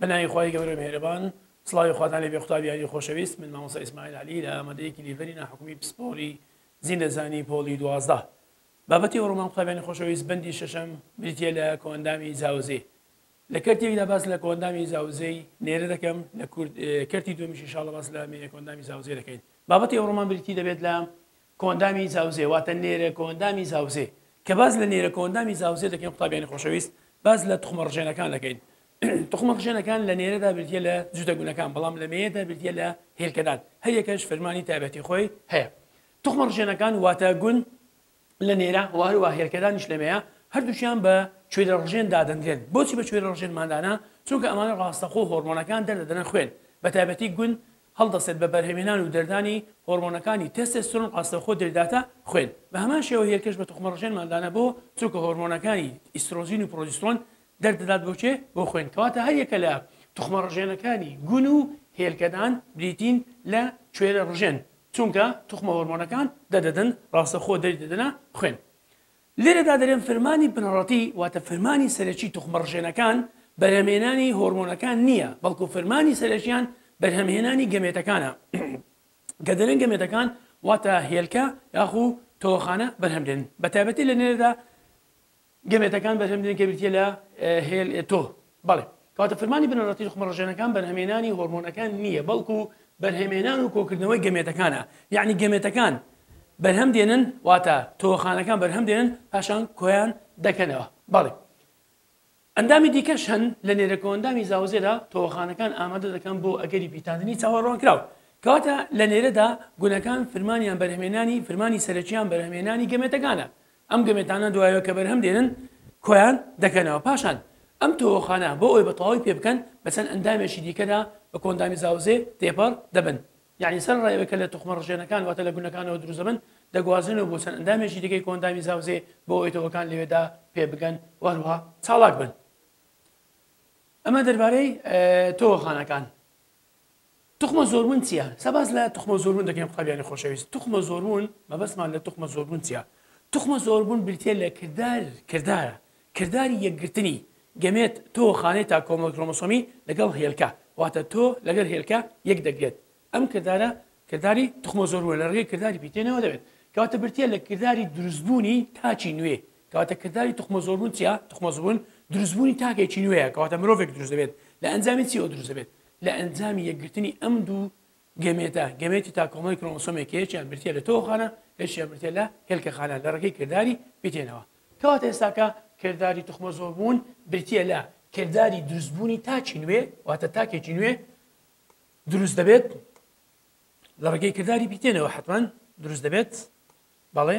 بەناوی خوای گەورە مێرەبان سڵاوی خواتان لێ بێ قوتابی یاری خۆشەویست من مامۆستا ئیسماعیل علی لە ئامادەیەکی لیڤەری ناحکومی پسپۆری زیندەزانی پۆڵی دوازدە بابەتی ئەوڕۆمان قوتابیانی خۆشەویست بەندی شەشەم بریتیە لە کۆئەندامی زاوزێ لە کەرتێکدا باس لە کۆئەندامی زاوزێی نێرە دەکەم، لە کەرتی دووەمیش ان شاءاللە باس لە مێینە کۆئەندامی زاوزێ دەکەین. بابەتی ئەوڕۆمان بریتی دەبێت لە کۆئەندامی زاوزێ واتە نێرە کۆئەندامی زاوزێ. کە باس لە نێرە کۆئەندامی زاوزێ دەکەین قوتابیانی خۆشەویست باس لە توخمە ڕژێنەکان دەکەین. توخمە ڕژێنەکان لە نێرەدا بریتییە لە جووتە گونەکان بەڵام لە مێیەدا بریتییە لە هێلکەدان هەریەکەش فرمانی تایبەتی خۆی هەیە. توخمە ڕژێنەکان واتە گون لە نێرە و هەروەها هێلکەدانیش لە مێیە، هەردووکیان بە کوێرەڕژێن دادەنرێن. بۆچی بە کوێرەڕژێنمان دانا؟ چونکە ئەمانە ڕاستەخۆ هۆرمۆنەکان دەردەدەنە خوێن، بەتایبەتی گون هەڵدەستێت بە بەرهەمهێنان و دەردانی هۆرمۆنەکانی تێستێسترۆن ڕاستەوخۆ دەریداتە خوێن. بە هەمان شێوە هێلکەش بە توخمەڕژێنمان دانا بۆ؟ چونکە هۆرمۆنەکانی ئیسترۆجین و پرۆجیسترۆن دەردەدات بۆ کێ؟ بۆ خوێن. کەواتە هەر یەکە لە توخمە ڕژێنەکانی گون و هێلکەدان بریتین لە کوێرە ڕژێن، چونکە توخمە هۆرمۆنەکان دەردەدەن، ڕاستەخۆ دەری دەدەنە خوێن. لێرەدا دەرێم فرمانی بنەڕەتی واتە فرمانی سەرەکی توخمە ڕژێنەکان بەرهەمهێنانی هۆرمۆنەکان نییە، بەڵکو فرمانی سەرەکیان بەرهەمهێنانی گەمێتەکانە کە دەرێن گەمێتەکان واتە هێلکە یاخو تۆوەخانە بەرهەم دێن بەتایبەتی لە نێرەدا. گەمێتەکان بەرهەم دێن کە بریتییە لە هێل ئێتۆ، بەڵێ، کەواتە فرمانی بنەڕەتی توخمڕژێنەکان بەرهەمێنانی هۆرمۆنەکان نییە بەڵکو بەرهەمێنان و کۆکردنەوەی گەمێتەکانە یەعنی گەمێتەکان بەرهەم دێنن واتە تۆوەخانەکان بەرهەم دێنن پاشان کۆیان دەکەنەوە بەڵێ ئەندامی دیکەش هەن لە نێرە کۆئەندامی زاوزێدا تۆوەخانەکان ئامادە دەکەن بۆ ئەگەری پیتاندنی چاوەڕوانکراو کەواتە لە نێرەدا گونەکان فرمانیان بەرهەمێنانی فرمانی سەرەکیان بەرهەمێنانی گەمێتەکانە ئەم گەمێتانە دوایەوە کە بەرهەم دێنن کۆیان دەکەنەوە، پاشان ئەم تۆوەخانە بۆ ئەوەی بە تەواوی پێ بکەن بە چەند ئەندامێکی دیکەدا بە کۆندامی زاوزێ تێپەڕ دەبن، یەعنی سەرەڕای ئەوەی کە لە توخمە ڕژێنەکان واتە لە گونەکانەوە دروست دەبن دەگوازرێنەوە بۆ چەند ئەندامێکی دیکەی کۆندامی زاوزێ بۆ ئەوەی تۆوەکان لەوێدا پێ بگەن و هەروەها چاڵاک بن. ئەمە دەربارەی تۆوەخانەکان. توخمە زۆربوون چیە؟ سەباس لە توخمە زۆربوون دەکەین قوتابیانی خۆشەویست توخمە زۆربوون مەبەستمان لە توخمە زۆربوون چیە؟ توخمە زۆربوون بریتیە لە کردار کردارە کرداری یەکگرتنی، گەمێت، تۆ، خانەی تا کۆمەڵە کرۆمۆسۆمی، لەگەڵ هێلکە، واتە تۆ لەگەل هێلکە یەک دەگرێت ئەم کردارە کرداری توخمە زۆربوونە لە ڕێگەی کرداری پیتێنەوە دەبێت کەواتە بریتیە لە کرداری دروستبوونی تاکی نوێ کەواتە کرداری توخمەزۆربوون چیە؟ توخمەزبوون دروستبوونی تاکێکی نوێیە، کەواتە مرۆڤێک دروست دەبێت، لە ئەنجامی چیەوە دروست دەبێت؟ لە ئەنجامی یەکگرتنی ئەم دوو گەمێتە، گەمێتی تا کۆمەڵی کرۆمۆسۆمێک کە یەکیان بریتیە لە تۆوەخانە، یەکیشیان بریتیە لە هێلکەخانە لە ڕێگەی کرداری پیتێنەوە. کەواتە ئێستاکە کرداری توخمەزۆربوون بریتیە لە کرداری دروستبوونی تاکی نوێ، واتە تاکێکی نوێ دروست دەبێت لە ڕێگەی کرداری پیتێنەوە حەتمەن دروست دەبێت بەڵێ،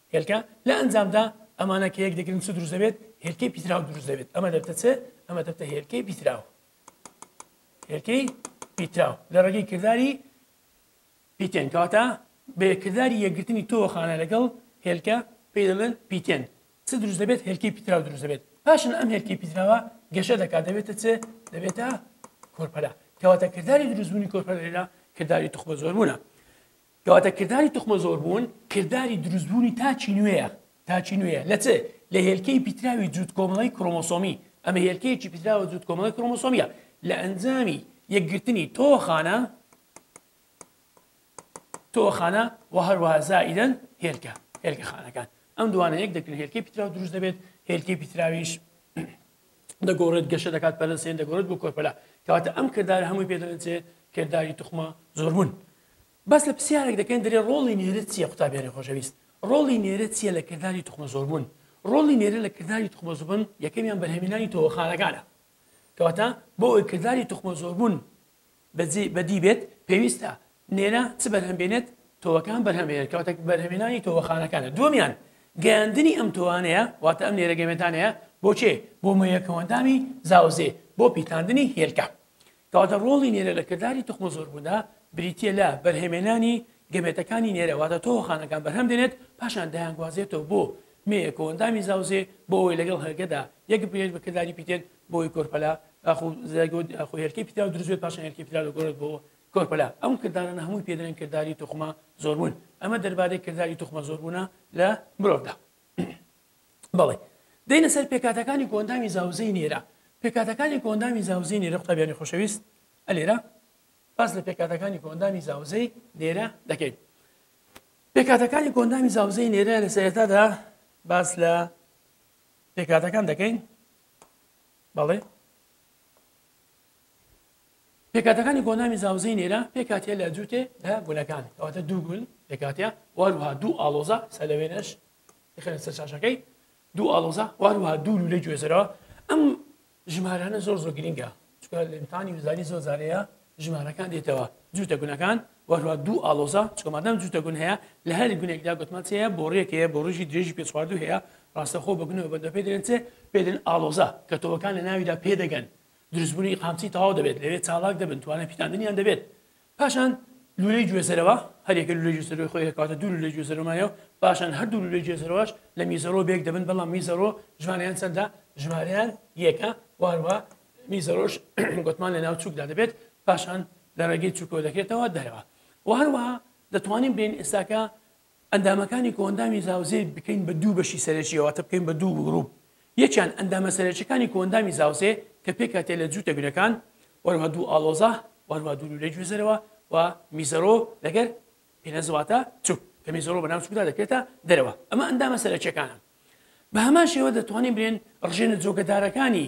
هێلکە، لە ئەنجامدا ئەمانە کە یەک دەگرن چ دروست دەبێت؟ هێلکەی پیتراو دروست دەبێت، ئەمە دەبتە چ؟ ئەمە دەبتە هێلکەی پیتراو. هێلکەی پیتراو لە ڕێگەی کرداری پیتێن کەواتە بە کرداری یەکگرتنی تۆوەخانە لەگەڵ هێلکە پێی دەڵێن پیتێن چ دروست دەبێت؟ هێلکەی پیتراو دروست دەبێت، پاشان ئەم هێلکەی پیتراوە گەشە دەکات دەبێتە چ؟ دەبێتە کۆرپەلە، کەواتە کرداری دروستبوونی کۆرپەلە لێرە کرداری توخمە زۆربوونە. کەواتە کرداری توخمە زۆربوون کرداری دروستبوونی تاکی نوێیە، تاکی نوێیە لە چ؟ لە هێلکەی پیتراوی جووت کۆمەڵەی کرۆمۆسۆمی، ئەمە هێلکەیەکی پیتراوە جووت کۆمەڵەی کرۆمۆسۆمییە لە ئەنجامی یەکگرتنی تۆوەخانە تۆوەخانە و هەروەها زائیدەن هێلکە هێلکە خانەکان ئەم دوانە یەک دەکرێت هێلکەی پیتراو دروست دەبێت هێلکەی پیتراویش دەگۆڕێت گەشە دەکات پەرە سێن دەگۆڕێت بۆ کۆرپەلا کەواتە ئەم کردارە هەمووی پێ دەڵێن چێ کرداری توخمە زۆربوون باس لە پرسیارێک دەکەین دەرێ ڕۆڵی نێرە چییە قوتابیانی خۆشەویست ڕۆڵی نێرە چییە لە کرداری توخمە زۆربوون ڕۆڵی نێرە لە کرداری توخمە زبن یەکەمیان بەرهەمینانی تۆوەخانەکانە کەواتە بۆ ئەوی کرداری توخمە زۆربوون بەجێی بەدی بێت پێویستە نێرە چ بەرهەم بێنێت تۆوەکان بەرهەم بێنێت کەواتە بەرهەمێنانی تۆوەخانەکانە دووەمیان گەیاندنی ئەم تۆوانەیە واتە ئەم نێرە گەمێتانەیە بۆ کێ بۆ مەیەکەوەندامی زاوزێ بۆ پیتاندنی هێلکە کەواتە ڕۆڵی نێرە لە کرداری توخمە زۆربووندا بریتە لە بەرهەمێنانی گەمێتەکانی نێرە واتە تۆوەخانەکان بەرهەم دێنێت پاشان دایانگوازێتەوە بۆ مێیەکەوەندامی زاوزێ بۆ ئەوەی لەگەڵ هەرگەدا یەک بێت بە کرداری پیتێن بۆی کۆرپەلا ئاخۆ زایگۆت ئاخۆ هێلکەی پیتاو دروست بێت پاشان هێلکەی پیتاو دەگۆڕێت بۆ کۆرپەلا ئەم کردارانە هەمووی پێ دەڵێن کرداری توخمە زۆربوون ئەمە دەربارەی کرداری توخمە زۆربوونە لە مرۆڤدا بەڵێ دێنە سەر پێکاتەکانی کۆندامی زاوزێی نێرە پێکاتەکانی کۆندامی زاوزێی نێرە قوتابیانی خۆشەویست ئەلێرە باس لە پێکاتەکانی کۆندامی زاوزێی نێرە دەکەین پێکاتەکانی کۆندامی زاوزێی نێرە لە سەرێتادا باس لە پێکاتەکان دەکەین بەڵێ. پێکهاتەکانی گۆنامی زاوزێی نێرە پێکهاتە لە جووتێ لە گولەکان کەواتە دوو گول پێکهاتە واروها دوو ئالۆزە سەلەوێنش خێن سەر شاشەکەی دوو ئالۆزە واروها دوو لە گوێزەرەوە ئەم ژمارانە زۆر زۆر گرنگە چونکە لەمیتانی وزاری زۆر جار هەیە ژمارەکان دێتەوە جووتە گونەکان وەروە دوو ئالۆزە چکۆمادام جووتە گون هەیە لە هەر گونێکدا گوتمان چەیە بۆ ڕێکەیە بۆ ڕژی درێژی پێ چواردوو هەیە ڕاستەخۆ بە گونەوە بەندە پێ درێن چێ پێدن ئالۆزە کە تۆوەکان لە ناویدا پێدەگەن دروستبوونی قامچی تەواو دەبێت لەوێ چاڵاک دەبن توانە پیتاندنیان دەبێت پاشان لولەی گوێزەرەوە، هەریەکە لولەی گوێزەرەوەی خۆی هەیە، کەواتە دوو لولەی گوێزەرەوەمان هەیە و پاشان هەردوو لولەی گوێزەرەوەش لە میزەرۆ بەیەک دەبن، بەڵام میزەرۆ ژمارەیان چەندە؟ ژمارەیان یەکە و هەروەها میزەرۆش گۆتمان لە ناو چووکدا دەبێت، پاشان لە ڕێگەی چووکەوە دەکرێتەوە دەرەوە و هەروەها دەتوانین بێین ئێستاکە ئەندامەکانی کۆئەندامی زاوزێ بکەین بە دوو بەشی سەرەکییەوە واتە بکەین بە دوو گرووپ یەکیان ئەندامە سەرەکیەکانی کۆئەندامی زاوزێ کە پێکهاتەیە لە جووتە گرەکان وەروها دوو ئاڵۆزە وەروها دوو لولەی گوێزەرەوە و میزەرۆ لەگەر پێنەز واتە چوک کە میزەرۆ بەناو چوکدا دەکرێتە دەرەوە ئەمە ئەندامە سەرەکیەکانن بە هەمان شێوە دەتوانین بلێن ڕژێنە جۆگەدارەکانی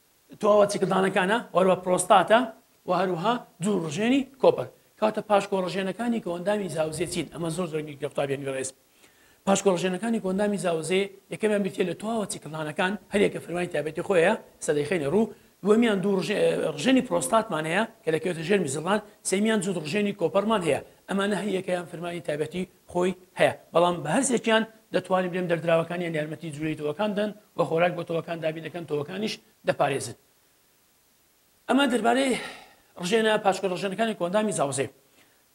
تۆوە چکدانەکانە وەروە پرۆستاتە و هەروەها دوو ڕژێنی کۆپەر کاتە پاشکۆ ڕژێنەکانی کۆندامی زاوزێ چین ئەمە زۆر زۆر گرنگە قوتابیان گوێڕێز پاشکۆ ڕژێنەکانی کۆندامی زاوزێ یەکەمیان بریتە لە تۆوە چکدانەکان هەریەکە فرمانی تابێتی خۆیە سەدەیخێنە ڕوو دووەمیان دوو ڕژێنی پرۆستاتمان هەیە کە دەکەوێتە ژێر میزڵان سێمیان جود ڕژێنی کۆپەرمان هەیە ئەمانە هەیەکەیان فرمانی تابەتی خۆی هەیە، بەڵام بە هەرسێکیان دەتوانین بلێم دەردراوەکانیان یارمەتی جولەی تۆوەکان دەن و خۆراک بۆ تۆوەکان دابین دەکەن تۆوەکانیش دەپارێزن. ئەمە دەربارەی ڕژێنە پاشکۆ ڕژێنەکانی کۆندامی زاوزێ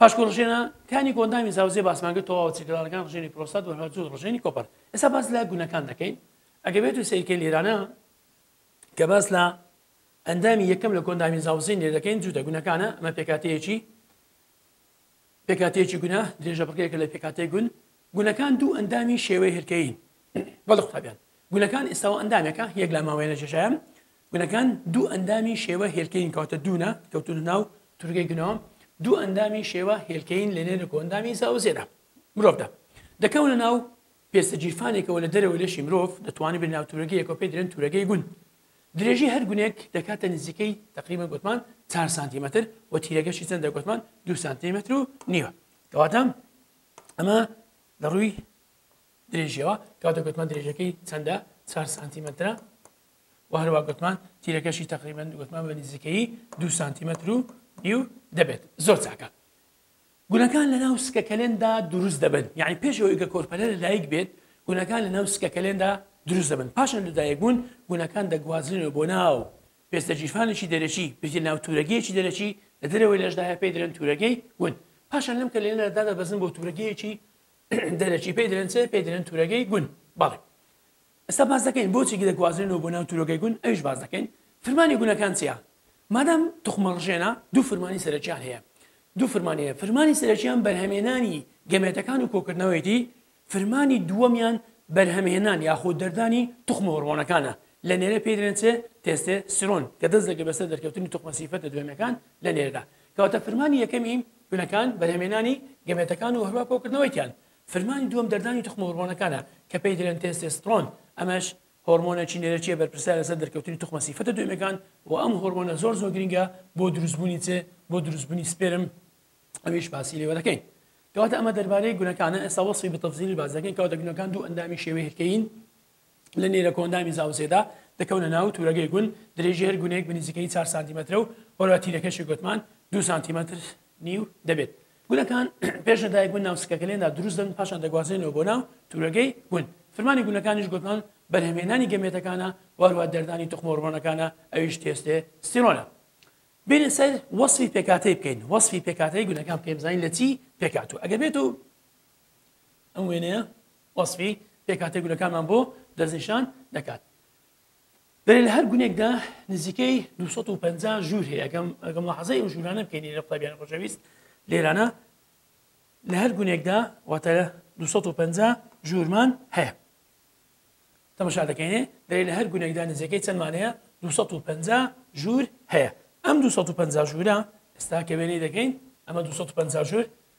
پاشکۆ ڕژێنە کانی کۆندامی زاوزێ باسمانگە تۆواوە چرکەدارەکان ڕژێنی پرۆسات و هەرجوو ڕژێنی کۆپەر ئێستا باس لە گونەکان دەکەین ئەگە بێت و سیرکە لێرانە کە باس لە ئەندامی یەکەم لە کۆندامی زاوزین لێ دەکەین جوودە گونەکانە ئەمە پێکاتەیەکی پێکهاتەیەکی گونە، درێژە بڕگەیەکە لە پێکهاتەی گون. گونەکان دوو ئەندامی شێوەی هێلکەیین. بەڵێ قوتابیان، گونەکان ئێستاوە ئەندامێکە، یەک لا ماوەیە لە جێژایان. گونەکان دوو ئەندامی شێوە هێلکەیین کەواتە دوونە، کەوتوونە ناو تورگەی گونەوە. دوو ئەندامی شێوە هێلکەیین لە نێر و کۆئەندامی زاوزێدا، مرۆڤدا، دەکەونە ناو پێستە گیرفانێکەوە لە دەرەوەی لەشی مرۆڤ، دەتوانرێت بێنە ناو تورەگەیەکەوە پێی دەلێن تورەگەی گون. درێژی هەر گونێک دەکاتە نزیکەی تەقریبەن گۆتمان چار سانتیمەتر و تیرەگەشی چەندە گۆتمان دو سانتیمەتر و نیوە کەواتە ئەمە لە ڕووی درێژیەوە کاتە گوتمان درێژەکەی چەندە چار سانتیمەترە و هەروە گوتمان تیرەکەشی تقریبان گوتمان بە نزیکەی دو سانتیمەتر و نیو دەبێت زۆر چاکە گونەکان لەناو سکەکەلێندا دروست دەبن یانی پێش ئەوەی کە کۆرپەلە لەدایک بێت گونەکان لەناو سکەکەلێندا دروست دەبن پاشان لەدایک بوون گونەکان دەگوازرێنەوە بۆ ناو پێستە گیرفانێکی دەرەکی بریتیە ناو تورەگەیەکی دەرەکی لە دەرەوەی لەشدا هەیە پێی دەلێن تورەگەی ون پاشان لەم کەلێنەدا دادەبەزن بۆ تورەگەیەکی دەرەکی پێی دەلێن چێ پێی دەلێن تورەگەی گون بەڵێ ئێستا باس دەکەین بۆچی گرێ گوازرێنەوە بۆ ناو تورۆکەی گون ئەویش باس دەکەین فرمانی گونەکان چیە مادام توخمە ڕژێنە دوو فرمانی سەرەکیان هەیە دوو فرمانی هەیە فرمانی سەرەکیان بەرهەمێنانی گەمێتەکان و کۆکردنەوەیەتی فرمانی دووەمیان بەرهەمهێنان یاخود دەردانی توخمە هۆڕمۆنەکانە لە نێرە پێی دەلێن چێ تێستێ سرۆن کە دەست دەگرێت بەسەر دەرکەوتنی توخمە سیفەتە دوێمەکان لە نێردا کەواتە فرمانی یەکەمی گونەکان بەرهەمێنانی گەمێتەکان و هەروە کۆکردنەوەیتیان فرمانی دووەم دەردانی توخمە هۆرمۆنەکانە کە پێی دەلێن تێستێستڕۆن ئەمەش هۆرمۆنێکی نێرەکیە بەرپرسیارە لەسەر دەرکەوتنی توخمە سیفەتە دوێمەکان و ئەم هۆرمۆنە زۆر زۆر گرنگە بۆ دروست بوونی چ بۆ دروست بوونی سپێرم ئەویش باسی لێوە دەکەین کەواتە ئەمە دەربارەی گونەکانە ئێستا وەسفی بە تەفزیلی باس دەکەین کەواتە گونەکان دوو ئەندامی شێوەی هێلکەیین لە نێرە کۆئەندامی زاوزێدا دەکەونە ناو تورەگەی گون، درێژی هەر گونێک بە نزیکەیی چار سانتیمەترە و بەرە تیرەکەشی گۆتمان دوو سانتیمەتر نیو دەبێت. گونەکان پێش لە دایکبوون ناو سکەکەلێندا دروست دەبن پاشان دەگوازرێنەوە بۆ ناو تورەگەی گون. فرمانی گونەکانیش گۆتمان بەرهەمهێنانی گەمێتەکانە و هەروەها دەردانی توخمەوڕۆنەکانە ئەویش تێستێ ستیرۆنە. بێنە سەر وەسفی پێکهاتەی بکەین وەسفی پێکهاتەی گونەکان بکەین بزانین لە چی پێکهاتووە ئەگەر بێتو ئەم وێنەیە وەسفی پێکهاتەی گولەکانمان بۆ دەستنیشان دەکات. دەرێ لە هەر گونێکدا نزیکەی 250 ژوور هەیە ئەگەم ئەگەم لاحەزای ئەو ژوورانە بکەین لە قوتابیانی ڕۆژەویست لێرانە لە هەر گونێکدا واتە 250 ژوورمان هەیە تەمەشا دەکەینێ دەێ لە هەر گونێکدا نزیکەی چەندمانەیە 250 ژوور هەیە ئەم 250 ژوورە ئێستا کەوێنەی دەکەین ئەمە 250 ژوور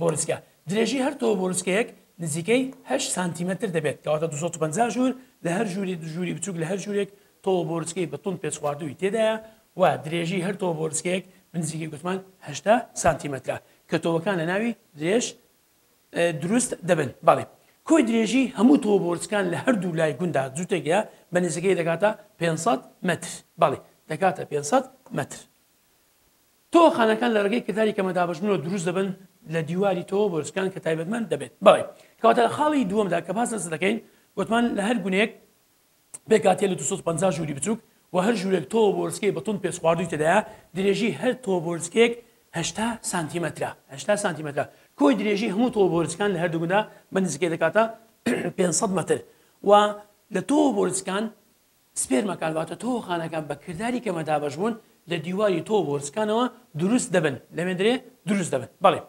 بۆروسکە، درێژی هەر تۆو بۆروسکەیەک نزیکەی هەشت سانتیمەتر دەبێت کەواتە دوو سەد و پەنجا ژوور لە هەر ژووری دو ژووری بچووک لە هەر ژوورێک تۆو بۆروسکەی بە توند پێچخواردووی تێدایە و درێژی هەر تۆو بۆروسکەیەک بنزیکەی گوتمان هەشتا سانتیمەترە کە تۆوەکان لە ناوی درێژ دروست دەبن بەڵی کۆی درێژی هەموو تۆو بۆرسکان لە هەردوو لای گوندا جووتێکە بە نزیکەی دەکاتە 500 متر بەڵی دەکاتە 500 متر تۆوەخانەکان لە ڕێگەی کرداری کەمە دابەشبوونەوە دروست دەبن لە دیواری تۆوە بۆرچکان کە تایبەتمەند دەبێت بەوەی کەواتە لە خاڵی دووەمدا کە باس لەسەر دەکەین وتمان لە هەر گونێک پێکاتێ لە 250 ژووری بچووک و هەر ژوورێک تۆوە بۆرچکەی بە توند پێچخواردووی تێدایە درێژی هەر تۆوە بۆرچکەیەک 80 سانتیمەترە 80 سانتیمەترە کۆی درێژی هەموو تۆوە بۆرچکان لە هەردوو گوندا بە نزیکەی دەکاتە 500 مەتر و لە تۆوە بۆرچکان سپێرمەکان واتە تۆوەخانەکان بە کرداری کەمە دابەشبوون لە دیواری تۆو بۆرسکانەوە دروست دەبن لەمێندرێ دروست دەبن بەڵێ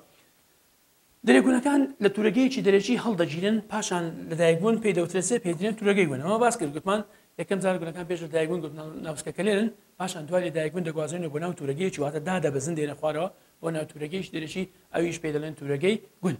درێگونەکان لە تورەگەیەکی دەرەکی هەڵدەگیرن پاشان لەدایکبوون پێی دەوترێت سێ پێدرێن تورەگەی بوون ئەمە باس کرد گوتمان یەکەم جار گونەکان پێش لەدایکبوون گوت ناوسکەکە لێرن پاشان دوای لەدایکبوون دەگوازێنە بۆ ناو تورەگەیەکی واتە دادەبەزن دێنە خوارەوە بۆ ناو تورەگەیش دەرەکی ئەویش پێ دەڵێن تورەگەی گوند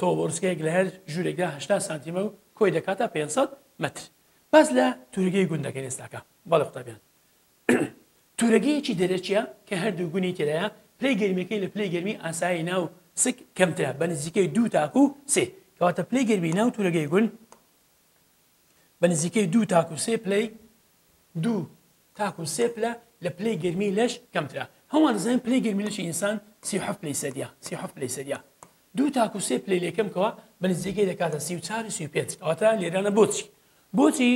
تۆو بۆرسکەیەک لە هەر ژوورێکدا هەشتا سانتیمە و کۆی دەکاتە پێنج سەد مەتر. باس لە تورگەی گوند دەکەین ئێستا کە. بەڵێ قوتابیان. تورەگەیەکی دەرەکییە کە هەردوو گونی تێدایە، پلەی گەرمییەکەی لە پلەی گەرمی ئاسایی ناو سک کەمترە بە نزیکەی دوو تاکوو سێ. کەواتە پلەی گەرمی ناو تورەگەی گوند بە نزیکەی دوو تاکوو سێ پلەی دوو تاکو سێ پلە لە پلەی گەرمی لەش کەمترە هەمووان دەزانین پلەی گەرمی لەشی ئینسان سی و حەفت پلەی سەدیە سی و حەفت پلەی سەدیە دوو تاکو سێ پلەی لێ کەم کەوە بە نزیکەی دەکاتە سی و چار و سی و پێنج کەواتە لێرانە بۆچی بۆچی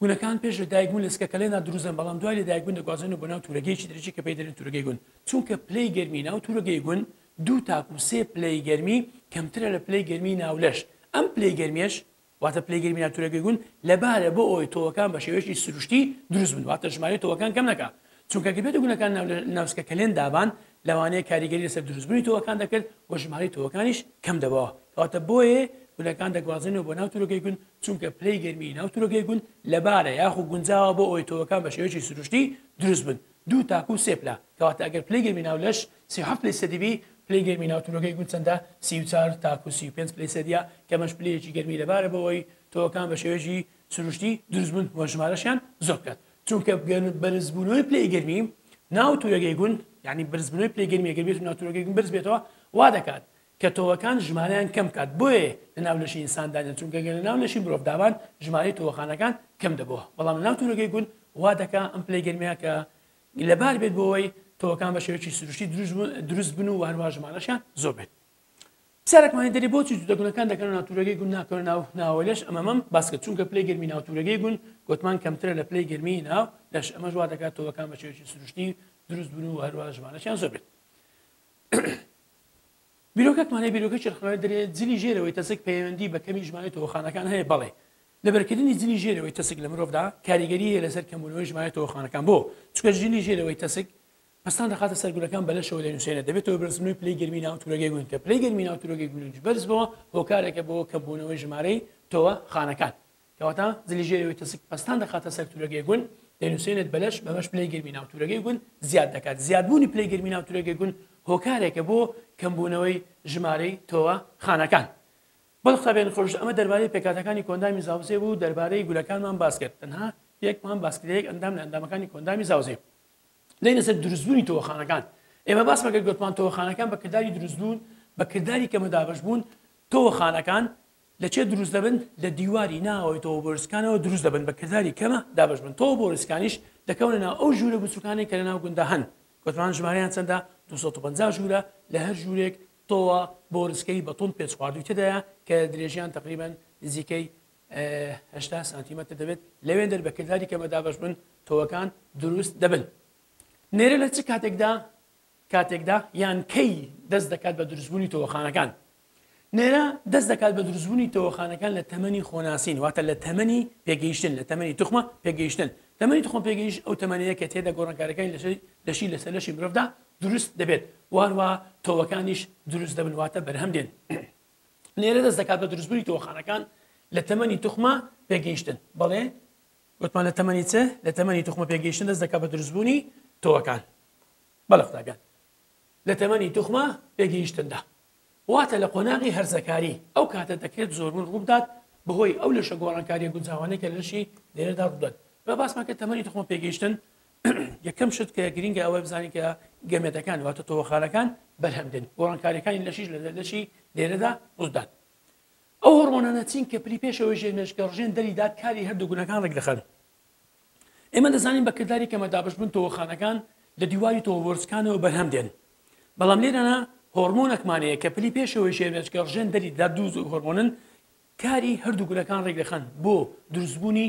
گونەکان پێش لە دایکبوون لە سکەکەلێنا دروزن بەڵام دوای لە دایکبوون دەگوازێنە بۆ ناو تورەگەیەکی درێژی کە پێی دەرێن تورەگەی گون چونکە پلەی گەرمی ناو تورەگەی گون دوو تاکو سێ پلەی گەرمی کەمترە لە پلەی گەرمی ناولەش ئەم پلەی گەرمێش واتە پلەیگەی میناتورەکەی گوند لەبارە بۆ ئەوەی تۆوەکان بە شێوەیەکی سروشتی دروست بن واتە ژمارەی تۆوەکان کەم نەکا چونکە گەر بێتە گونەکان ناوسکە کەلێن دابان لەوانەیە کاریگەری لەسەر دروستبوونی تۆوەکان دەکرد و ژمارەی تۆوەکانیش کەم دەبەوە کەواتە بۆیە گونەکان دەگوازێنەوە بۆ ناو تورۆکەی گوند چونکە پلەی گەرمی ناو تورۆکەی گوند لەبارە یاخو گونجاوە بۆ ئەوەی تۆوەکان بە شێوەیەکی سروشتی دروست بن دوو تاکو سێ پلە کەواتە ئەگەر پلەی گەرمی ناو لەش سی و حەفت پلەی سەدی بی، پلەی گەرمی ناو تورۆکەی گوند چەندە؟ سی و چار تاکوو سی و پێنج پلەی سەدییە، کە ئەمەش پلەیەکی گەرمی لەبارە بەوەی تۆوەکان بە شێوەیەکی سروشتی دروست بوون و ژمارەشیان زۆر بکات، چونکە بەرزبوونەوەی پلەی گەرمی ناو تورەگەی گوند، یانی بەرزبوونەوەی پلەی گەرمی ئەگەر بێتو ناو تورۆکەی گوند بەرز بێتەوە وا دەکات کە تۆوەکان ژمارەیان کەم بکات، بۆیە لە ناو لەشی ئینسان دانێن، چونکە گەر لە ناو لەشی مرۆڤ دابان ژمارەی تۆوەخانەکان کەم دەبووە، بەڵام لە ناو تورۆکەی گوند وا دەکات ئەم پلەی گەرمییە کە. لەبار بێت بۆ ئەوەی تۆوەکان بە شێوەیەکی سروشتی دروست بن و هەروەها ژمارەشیان زۆر بێت. پرسیارێکمان هەیە دەرێ بۆچی جووتەگونەکان دەکەنە ناو تورەگەی گوون ناکەونە ناو ناوەوە لەش؟ ئەمە مەم باس کرد چونکە پلەی گەرمی ناو تورەگەی گوون گۆتمان کەمترە لە پلەی گەرمی ناو لەش ئەمەش وا دەکات تۆوەکان بە شێوەیەکی سروشتی دروست بن و هەروەها ژمارەشیان زۆر بێت. بیرۆکەتمانەیە بیرۆکەی ڕخنەوەی دەرێ جلی ژێرەوەی تەسک پەیوەندی بە کەمی ژمارەی تۆوەخانەکان هەیە بەڵێ لەبەرکردنی جلی ژێرەوەی تەسک لە مرۆڤدا کاریگەری هەیە لەسەر کەمبوونەوەی ژمارەی تۆوەخانەکان بۆ؟ چونکە جلی ژێرەوەی تەسک پەستان دەخاتە سەر گولەکان بە لەشەوە دەنووسێنێت دەبێتە هۆی بەرزبوونەوەی پلەی گەرمی ناو تورەگەی گونج کە پلەی گەرمی ناو تورەگەی گونج بەرز بووە هۆکارێکە بۆ کەمبوونەوەی ژمارەی تۆوەخانەکان کەواتە جلی ژێرەوەی تەسک پەستان دەخاتە سەر تورەگەی گونج دەنووسێنێت بە لەش بەمەش پلەی گەرمی ناو تورەگەی گونج زیاد دەکات زیادبوونی پلەی گەرمی ناو تورەگەی گونج هۆکارێکە بۆ کەمبوونەوەی ژمارەی تۆوەخانەکان بەڵ قوتابیانی خۆشەویست ئەمە دەربارەی پێکهاتەکانی کۆئەندامی زاوزێ بوو دەربارەی گولەکانمان باس کرد تەنها یەکمان باس کرد یەک ئەندام لە ئەندامەکانی کۆئەندامی زاوزێ دێینە سەر دروستبوونی تۆوەخانەکان ئێمە باسمان کرد گوتمان تۆوەخانەکان بە کرداری دروستبوون بە کرداری کەمە دابەش بوون تۆوەخانەکان لە چێ دروست دەبن لە دیواری ناوەوەی تۆوە بۆرسکانەوە دروست دەبن بە کرداری کەمە دابەش بن تۆوە بۆرسکانیش دەکەونە ناو ئەو ژوورە بچووکانەی کە لە ناو گوندا هەن گوتمان ژمارەیان چەندە 250 ژوورە لە هەر ژوورێک تۆوە بۆ رسکەی بەتوند پێچخواردووی تێدایە کە درێژیان تەقریبەن نزیکەی هەشتا سانتیمەتر دەبێت لەوێندەر بە کرداری کەمە دابەشبن تۆوەکان دروست دەبن نێرە لە چ کاتێکدا کاتێکدا یان کەی دەست دەکات بە دروستبوونی تۆوەخانەکان نێرە دەست دەکات بە دروستبوونی تۆوەخانەکان لە تەمەنی خۆناسین واتە لە تەمەنی پێگەیشتن لە تەمەنی توخمە پێگەیشتن تەمەنی تخۆم پێگەیش ئەو تەمەنەیە کە تێدا گۆڕانکارەکانی لەشی لەسەر لەشی مرۆڤدا دروست دەبێت وهەروەها تۆوەکانیش دروست دەبن واتە بەرهەم دێن نێرە دەست دەکات بە دروستبوونی تۆخانەکان لە تەمەنی توخمە پێگەیشتن بەڵێ وتمان لە تەمەنی چ لە تەمەنی توخمە پێگەیشتن دەست دەکات بە دروستبوونی تۆوەکان بەڵە قوتابیان لە تەمەنی توخمە پێگەیشتندا واتە لە قۆناغی هەرزەکاری ئەو کاتە دەکرێت زۆربوون ڕووبدات بەهۆی ئەو لەشە گۆڕانکاریە گونجاوانەی کە لەشی نێرەدا ڕوودەن بە باسمان کە تەمەنی توخمە پێگەیشتن یەکەم شت کە گرنگە ئەوەی بزانین کە گەمێتەکان واتە تۆوەخانەکان بەرهەم دێن گۆڕانکاریەکانی لەشیش لە دەردەشی دێرەدا ڕوودات ئەو هۆرمۆنانە چین کە پری پێشەوەی ژێر مێشکە ڕژێن دەریدات کاری هەردوو گونەکان ڕێک دەخەن ئێمە دەزانین بە کردداری کەمە دابشبوون تۆوەخانەکان لە دیواری تۆوەرزکانەوە بەرهەم دێن بەڵام لێرەنا هۆرمۆنەکمانەیە کە پلی پێشەوەی ژێرمێچکە ڕژێن دەری دا دوو زۆر هۆرمۆنن کاری هەردوو گولەکان ڕێگەخەن بۆ دروستبوونی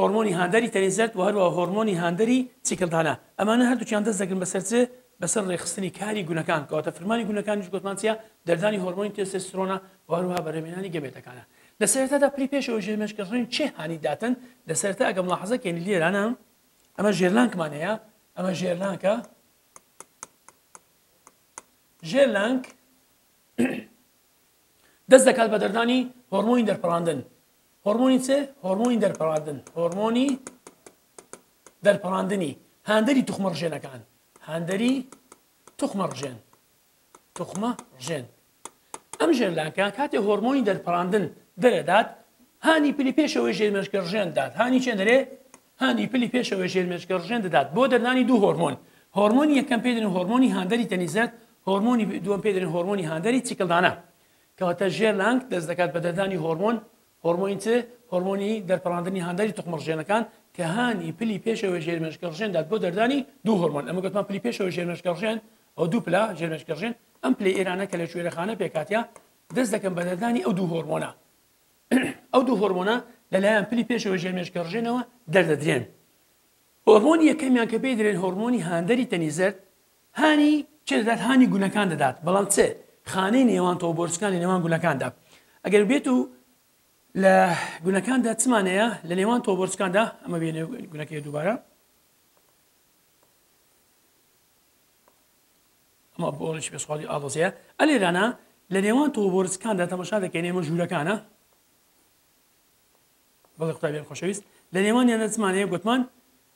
هۆرمۆنی هاندەری تەنی زەرد و هەروەها هۆرمۆنی هاندەری چیکلدانە ئەمانە هەردووکیان دەست دەگرن بەسەر چ؟ بەسەر ڕێکخستنی کاری گونەکان کەواتە فرمانی گونەکانیش گۆتمان چیە؟ دەردانی هۆرمۆنی تێستێسترۆنە و هەروەها بەرهەمهێنانی گەمێتەکانە لە سەرەتادا پری پێش ئەوەی ژێرمێش کە ڕێن چێ هانی داتن لە سەرەتا ئەگەر ملاحەزە کەین لێرانە ئەمە ژێرلانکمان هەیە ئەمە ژێرلانکە ژێرلانک دەست دەکات بە دەردانی هۆرمۆنی دەرپەڕاندن هۆڕمۆنی چ؟ هۆڕمۆنی دەرپەڕاندن، هۆڕمۆنی دەرپەڕاندنی هاندەری توخمە ڕژێنەکان، هاندەری توخمە ڕژێن، توخمە ڕژێن. ئەم ژێرلانکە کاتێ هۆرمۆنی دەرپەڕاندن دەرەدات هانی پلی پێشەوەی ژێرمێشکە ڕژێن دات هانی چێن دەرێ هانی پلی پێشەوەی ژێرمێشکە ڕژێن دەدات بۆ دەرنانی دوو هۆرمۆن هۆرمۆنی یەکەم پێدن هۆرمۆنی هاندەری تەنیزەت هۆرمۆنی دووەم پێدن هۆرمۆنی هاندەری چیکلدانە کەواتە ژێر لانک دەست دەکات بە دەردانی هۆرمۆن، هۆرمۆنی چ؟ هۆرمۆنی دەرپەڕاندنی هاندەری توخمڕژێنەکان کە هانی پلی پێشەوەی ژێرمێشکەڕژێن دات بۆ دەردانی دوو هۆرمۆن، ئەمە گوتمان پلی پێشەوەی ژێرمێشکەڕژێن ئەو دوو پلە ژێرمێشکەڕژێن ئەم پلەی ئێرانە کە لە کوێرەخانە پێکهاتە دەست دەکەن بە دەردانی ئەو دوو هۆرمۆنە ئەو دوو هۆرمۆنە لەلایەن پلی پێشەوەی ژێرمێشکەڕژێنەوە دەردەدرێن هۆرمۆنی یەکەمیان کە پێی درێن هۆرمۆنی هاندەری تەنیزەر هانی چێ دەدات؟ هانی گولەکان دەدات، بەڵام چ خانەی نێوان تۆو بۆرچکانی نێوان گولەکاندا ئەگەر بێت و لە گولەکاندا چمانەیە لە نێوان تۆو بۆرچکاندا ئەمە بێنێ گولەکەی دووبارە ئەمە بۆڵش پێسخوازی ئاڵۆزەیە ئەلێرانە لە نێوان تۆ بۆرسکاندا تەمەشا دەکەین ئێمە ژوورەکانە بەڵێ قوتابیان خۆشەویست لە نێوانیان دەچمانەیە گوتمان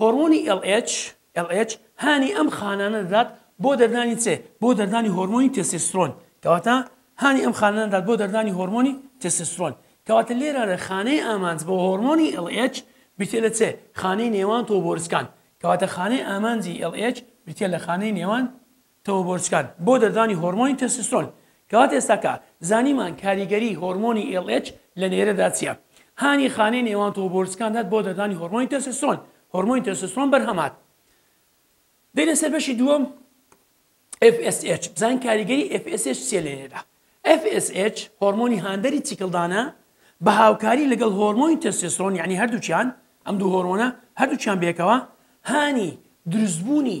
هۆرمۆنی ئێڵ ئێچ، LH، هانی ئەم خانانە دەدات بۆ دەردانی چ؟ بۆ دەردانی هۆرمۆنی تێستێسترۆن، کەواتە هانی ئەم خانانە دەدات بۆ دەردانی هۆرمۆنی تێستێسترۆن، کەواتە لێرەدا خانەی ئامانج بۆ هۆرمۆنی ئێڵ ئێچ بریتییە لە چ؟ خانەی نێوان تۆو بۆرچکان، کەواتە خانەی ئامانجی ئێڵ ئێچ بریتییە لە خانەی نێوان تەوەبۆرچکان بۆ دەردانی هۆرمۆنی تێستۆسترۆن کەواتە ئێستا کە زانیمان کاریگەری هۆرمۆنی LH لە نێرەدا چیە هانی خانەی نێوان تەوەبۆرچکان دات بۆ دەردانی هۆرمۆنی تێستۆسترۆن هۆرمۆنی تێستۆسترۆن بەرهەم هات دێنە سەر بەشی دووەم FSH بزان کاریگەری FSH چیە لە نێرەدا FSH هۆرمۆنی هاندەری چیکلدانە بە هاوکاری لەگەڵ هۆرمۆنی تێستۆسترۆن یعنی هەردووکیان ئەم دوو هۆرمۆنە هەردووکیان بێکەوە هانی دروستبوونی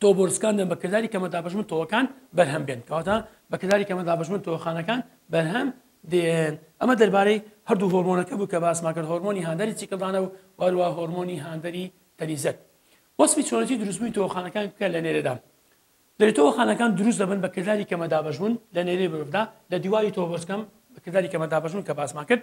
تۆوە بۆ رسکاندن بە کرداری کەمە دابەشبوون تۆوەکان بەرهەم بێن کەواتە بە کرداری کەمە دابەشبوون تۆوەخانەکان بەرهەم دێن ئەمە دەربارەی هەردوو هۆرمۆنەکە بوو کە باسمان کرد هۆرمۆنی هاندەری چیکڵدانە و وەروە هۆرمۆنی هاندەری تەنیزەت وەسفی چۆنەتی دروستبووی تۆخانەکان بکە لە نێرەدا دەێتەوە خانەکان دروست دەبن بە کرداری کەمە دابەشبوون لە نێری مرۆڤدا لە دیواری تۆبۆسکەم بە کرداری کەمە دابەشبوون کە باسمان کرد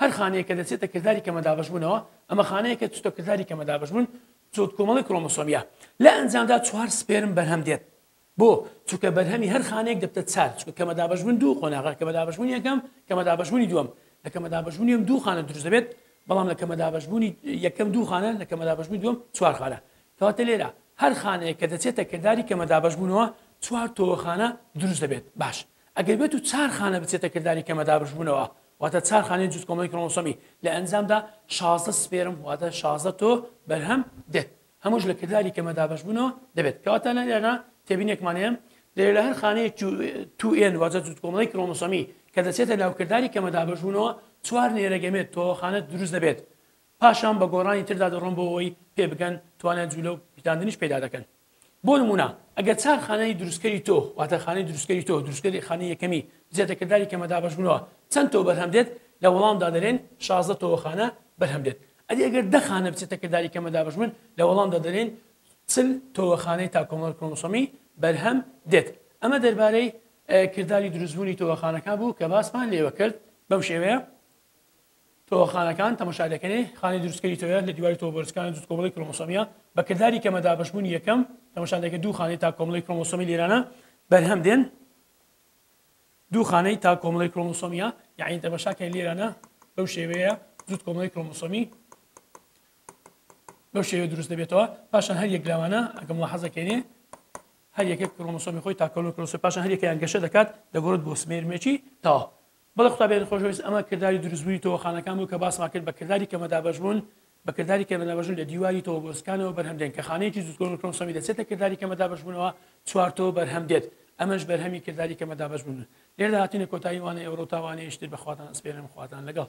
هەر خانەیەک کە دەچێتە کرداری کەمە دابەشبوونەوە، ئەمە خانەیەک کە چووتە کرداری کەمە دابەشبوون، چووت کۆمەڵەی کرۆمۆسۆمییە. لە ئەنجامدا چوار سپێرم بەرهەم دێت. بۆ؟ چونکە بەرهەمی هەر خانەیەک دەبتە چار، چونکە کەمە دابەشبوون دوو قۆناغە، کەمە دابەشبوونی یەکەم، کەمە دابەشبوونی دووەم. لە کەمە دابەشبوونی یەم دوو خانە دروست دەبێت، بەڵام لە کەمە دابەشبوونی یەکەم دوو خانە، لە کەمە دابەشبوونی دووەم چوار خانە. کەواتە لێرە هەر خانەیەک کە دەچێتە کرداری کەمە دابەشبوونەوە، چوار تۆوە خانە دروست دەبێت. باش. ئەگەر بێتو چار خانە بچێتە کرداری کەمە دابشبونەوە واتە چار خانەی جوت کۆمەڵی کرۆمۆسۆمی لە ئەنجامدا شازدە سپێرم واتە شازدە تۆو بەرهەم دێت هەموش لە کرداری کەمە دابشبونەوە دەبێت کەواتە لە لێرە تێبینێکمان هەیە دەێ لە هەر خانەیە تو ئێن واجە جوت کۆمەڵی کرۆمۆسۆمی کە دەچێتە ناوکرداری کەمە دابشبونەوە چوار نێرەگەمێت تۆوەخانە دروست دەبێت پاشان بە گۆڕانی تردا دەڕۆن بۆ ئەوەی پێبگەن توانای جولە و پیتاندنیش پەیدا دەکەن. بۆ نموونە ئەگەر چار خانەی دروستکەری تۆو واتە خانەی دروستکەری تۆو دروستکەری خانەی یەکەمی بچێتە کرداری کەمە دابەشبوونەوە چەند تۆو بەرهەم دێت؟ لە وەڵامدا دەلێن شازدە تۆوە خانە بەرهەم دێت. ئەدی ئەگەر دە خانە بچێتە کرداری کەمە دابەشبوون؟ لە وەڵامدا دەلێن چل تۆوە خانەی تا کۆمەڵە کرۆمۆسۆمی بەرهەم دێت. ئەمە دەربارەی کرداری دروستبوونی تۆوە خانەکان بوو کە باسمان لێوە کرد بەم شێوەیە. تۆوە خانەکان تەمەشا دەکەنێ خانی دروستکەری تۆوە لە دیواری تۆوە بەرزکانی جوت کۆمەڵی کرۆمۆسۆمیە بە کرداری کەمە دابەشبوونی یەکەم تەمەشا دەکە دوو خانەی تا کۆمەڵی کرۆمۆسۆمی لێرانە بەرهەم دێن دوو خانەی تا کۆمەڵی کرۆمۆسۆمیە یعنی تەمەشاکەی لێرانە بەو شێوەیە جوت کۆمەڵی کرۆمۆسۆمی بەو شێوە دروست دەبێتەوە پاشان هەر یەک لاوانە ئەگەم لە حەزەکەێنێ هەر یەکێک کرۆمۆسۆمی خۆی تاکۆلۆکرۆسی پاشان هەر یەکەیان گەشە دەکات دەگۆرت بۆ سمێرمێکی تاوە بەڵێ خودا بیانی خۆشەویست ئەمە کرداری دروست بوونی تۆوەخانەکان بوو کە باسمان کرد بە کرداری کەمەدابەش بوون بە کرداری کەمەدابەش بوون لە دیواری تۆوەگۆزەکانەوە بەرهەم دێن کە خانەیەکی زوتکۆرۆن کرۆمسۆمی دەچێتە کرداری کەمەدابەش بوونەوە چوار تۆو بەرهەم دێت ئەمەش بەرهەمی کرداری کەمەدابەش بوون لێردا هاتینە کۆتایی وانەی ئەورۆ تا وانەیەشتر بە خواتان ئەسپێرم خواتان لەگەڵ.